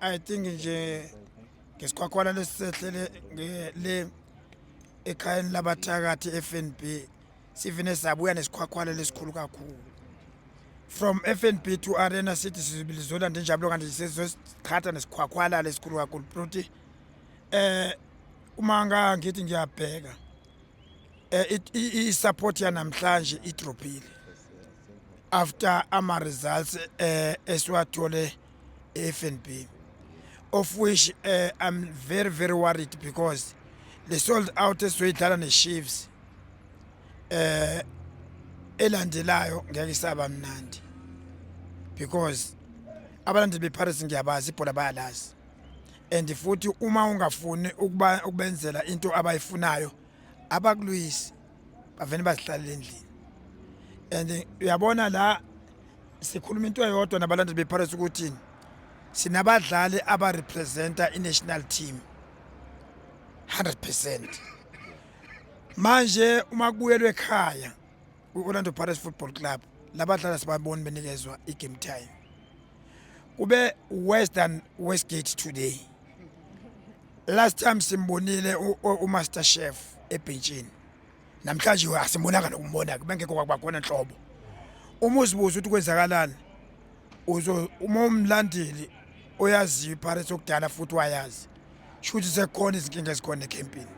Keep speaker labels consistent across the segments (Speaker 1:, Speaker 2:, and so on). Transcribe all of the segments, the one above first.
Speaker 1: I think nje ngesikhwakhwala lesisehlele le ekhayeni labathakathi FNB sivine sabuya nesikhwakhwala lesikhulu kakhulu from FNB to Arena City sizibilizola ndenjabulo kanti sesizoqhatha nesikhwakhwala lesikhulu kakhulu prote eh uma ngangithi ngiyabheka eh i support yanamhlanje idropile after ama results eh esiwathole e-FNB of which uh, I'm very very worried because le sold out esizoyidlala ne-Chiefs eh elandelayo ngeke isaba mnandi because abalandeli bePirates ngiyabazi ibhola bayalazi and futhi uma ungafuni ukubenzela into abayifunayo abakulwisi bavele bazihlalele endlini and uyabona la sikhuluma into eyodwa nabalandeli bePirates ukuthi sinabadlali abarepresenta i-national team 100% manje uma kubuyelwe ekhaya kwi-Orlando Pirates Football Club labadlali sibaboni benikezwa i-game time kube worse than Westgate today last time simbonile umaster chef ebhentshini namhlanje asimbonanga nokumbona bengekho kwakubakhona nhlobo uma uzibuza ukuthi kwenzakalani uzo uma umlandeli oyaziyo ipirates okudala futhi wayazi shuthi sekhona izinkinga ezikhona ecampini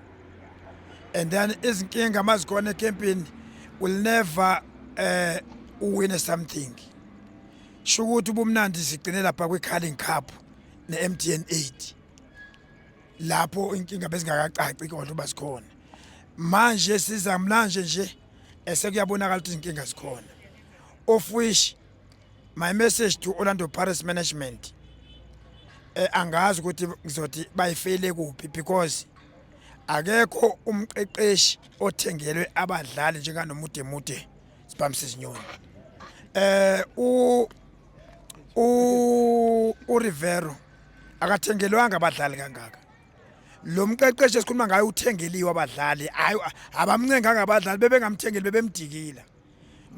Speaker 1: and then izinkinga uma zikhona ecampini will never uh, uwine something shukuthi ubumnandi sigcine lapha kwi-carling cup ne-mtn 8 lapho inkinga bezingakacaci kodwa uba zikhona manje siza mlanje nje esekuyabonakala ukuthi izinkinga zikhona of which my message to orlando paris management eh, angazi ukuthi ngizothi bayifeyile kuphi because akekho umqeqeshi othengelwe abadlali njenganomude mude sibambise izinyoni eh u u uRivero akathengelwanga abadlali kangaka lo mqeqeshi esikhuluma ngayo uthengeliwe abadlali hayi abamncenganga abadlali bebengamthengeli bebemdikila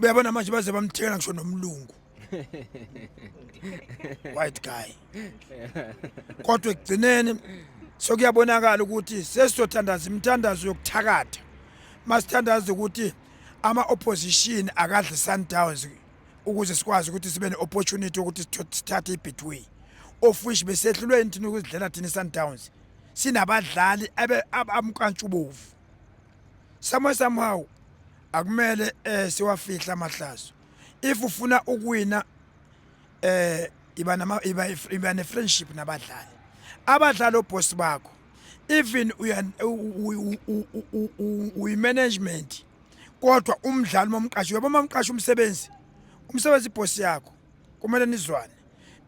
Speaker 1: uyabona manje baze bamthengela ngisho nomlungu white guy kodwa ekugcineni sokuyabonakala ukuthi sesizothandaza imithandazo yokuthakatha masithandaza ukuthi ama opposition akadle Sundowns ukuze sikwazi ukuthi sibe ne opportunity ukuthi sithathe ibetway of which besehlulwe inthini ukuzidlela thina Sundowns sinabadlali abamkantshubovu somehow somehow akumele eh siwafihla amahlazo if ufuna ukuwina eh iba nama iba iba ne friendship nabadlali abadlali oboss bakho even uyimanagement kodwa umdlali uma umqasha uyabo uma umqasha umsebenzi umsebenzi ibhosi yakho kumele nizwane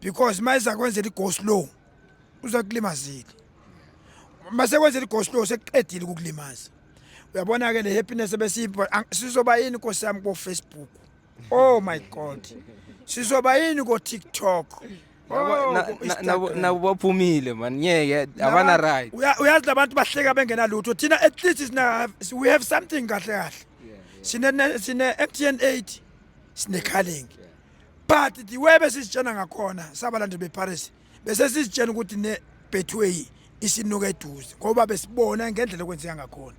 Speaker 1: because uma izakwenzela i-go slow uzakulimazile uma sekwenzela i-go slow sekuqedile ukukulimaza uyabona-ke le happiness ebesiyibona sizoba yini nkosi yami kofacebook Oh my god. Sizoba yini ko TikTok?
Speaker 2: nabo baphumile man ngeke abana right uyazi labantu bahleka
Speaker 1: bengena lutho thina at least sina we have something kahle kahle sine sine MTN 8 sine calling but the way besisitshena ngakhona sabalandi beParis bese sisitshena ukuthi ne Betway isinuka eduze ngoba besibona ngendlela okwenzeka ngakhona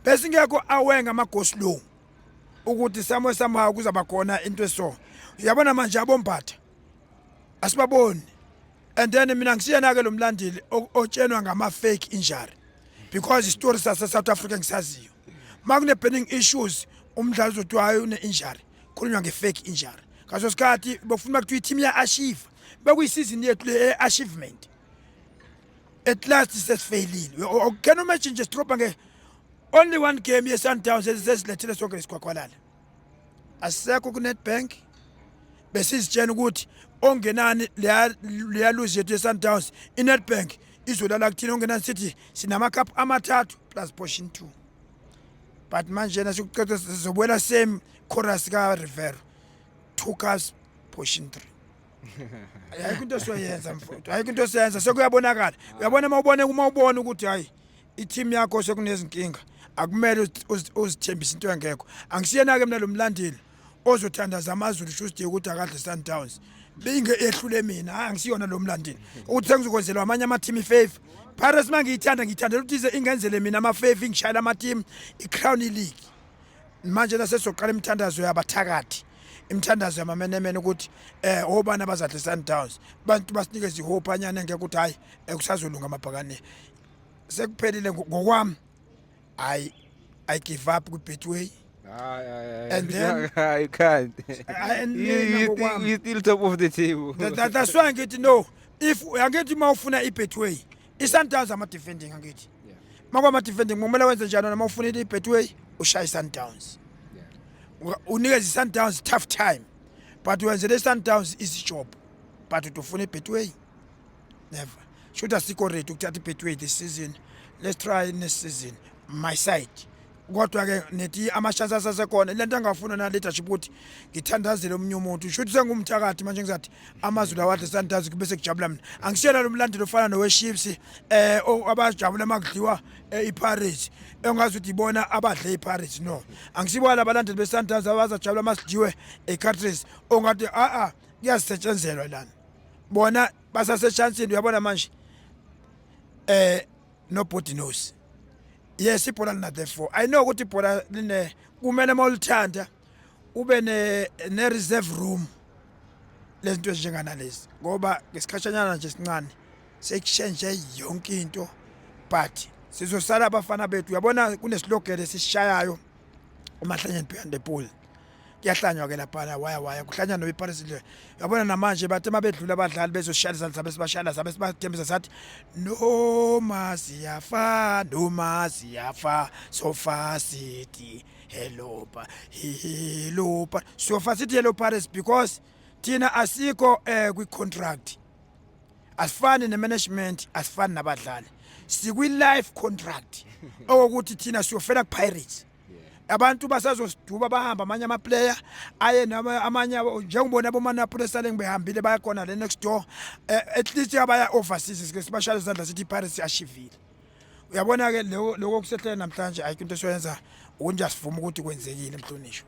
Speaker 1: besingekho awenga amagoslow ukuthi somehow somehow kuzaba khona into eso uyabona manje abombatha asibaboni and then mina ngisiyena ke lo mlandeli o- otshenwa ngama fake injury because istory sase South Africa ngisaziyo makune burning issues umdlali uzothiwa hayi une injury khulunywa nge fake injury ngaso sikhathi bokufuna kuthiwa i-team ya-ashiva bekuyisizini yethu le e-achievement at last sesifeyilile oh, oh, can you imagine nje sitrobha nge only one game ye-sundowns ezisesilethile sonke lesikhwakhwalala asisekho ku-netbank besizitshena ukuthi ongenani leyaluzi yethu ye-sundowns i-netbank izolala kuthina ongenani sithi sinamakhaphu amathathu plus portion two but manje na sikuqeda sizobuyela same chorus ka-rivero two cars portion three ayikho into esiyoyenza mfowethu ayikho into esiyenza sekuyabonakala uyabona uma ubone uma ubona ukuthi hayi i-team yakho sekunezinkinga akumele uzi- uzi- uzithembise into engekho angisiyena-ke mina lo mlandeli ozothandaza amazulu shusti ukuthi akadle sundowns binge ehlule mina hayi angisiyona lo mlandeli ukuthi sengizokwenzelwa amanye amathimu ifefa pirates uma ngiyithanda ngiyithandela ukuthi ize ingenzele mina amafefa ingishayela amatimu i-crown league manje nasesoqala imithandazo yabathakathi imithandazo yamamenemene ukuthi eh obana bazadle Sundowns bantu basinikeza ihope anyana ngeke ukuthi hayi eh, kusazolunga amabhakane sekuphelile ngokwami i i give up ku betway
Speaker 2: and then you can't and you, you, you still top of the table that, that's why ngithi
Speaker 1: no if angithi uma ufuna i betway iSundowns ama defending angithi makwa ama defending kumele wenze njani noma ufunile iBetway ushaya iSundowns unikeza iSundowns tough time but wenzele iSundowns easy job but utufuna iBetway never should asikho ready ukuthatha iBetway this season let's try next season my side kodwa-ke nethi amashansi asasekhona le nto angafuna na-leadership ukuthi ngithandazele omunye umuntu shuthi sengumthakathi manje ngizathi amazwi lawo adle sandazi kube sekujabula mina angisiyena lo mlandeli ofana nowe-ships um eh, abajabula uma kudliwa um eh, iparis engazi ukuthi ibona abadle iparis no angisibona abalandeli besandazi abazajabula uma sidliwe ecatris ongathi a-a kuyazisetshenzelwa lana bona basaseshansini uyabona manje um nobody knows yes ibhola lina the four i know ukuthi ibhola line kumele mawulithanda ube ne ne reserve room lezinto ezinjenganalezi ngoba ngesikhashanyana nje sincane sekushenje yonke into but sizosala abafana bethu uyabona kunesilogele sishayayo umahlanyeni behind the pool kuyahlanywa ke laphana waya waya kuhlanywa nobe iparis le yabona namanje bathe mabedlula abadlali bezoshaya izandla zabe sibashayela zabe sibathembisa sathi noma siyafa noma siyafa sofa city hello pa hello pa sofa city hello paris because thina asikho eh kwi contract asifani nemanagement asifani nabadlali sikwi-life contract okokuthi thina siyofela kupirates abantu basazosiduba bahamba amanye amaplayer aye amanye njengibona abomanapula esaleng behambile bayakhona le next door eh, at least abaya overseas sike sibashaya izandla sithi ipirates yashivile uyabona-ke loko kusehlela namhlanje ayikho into esiyoyenza ukuthi asivuma ukuthi kwenzekile mhlonishwa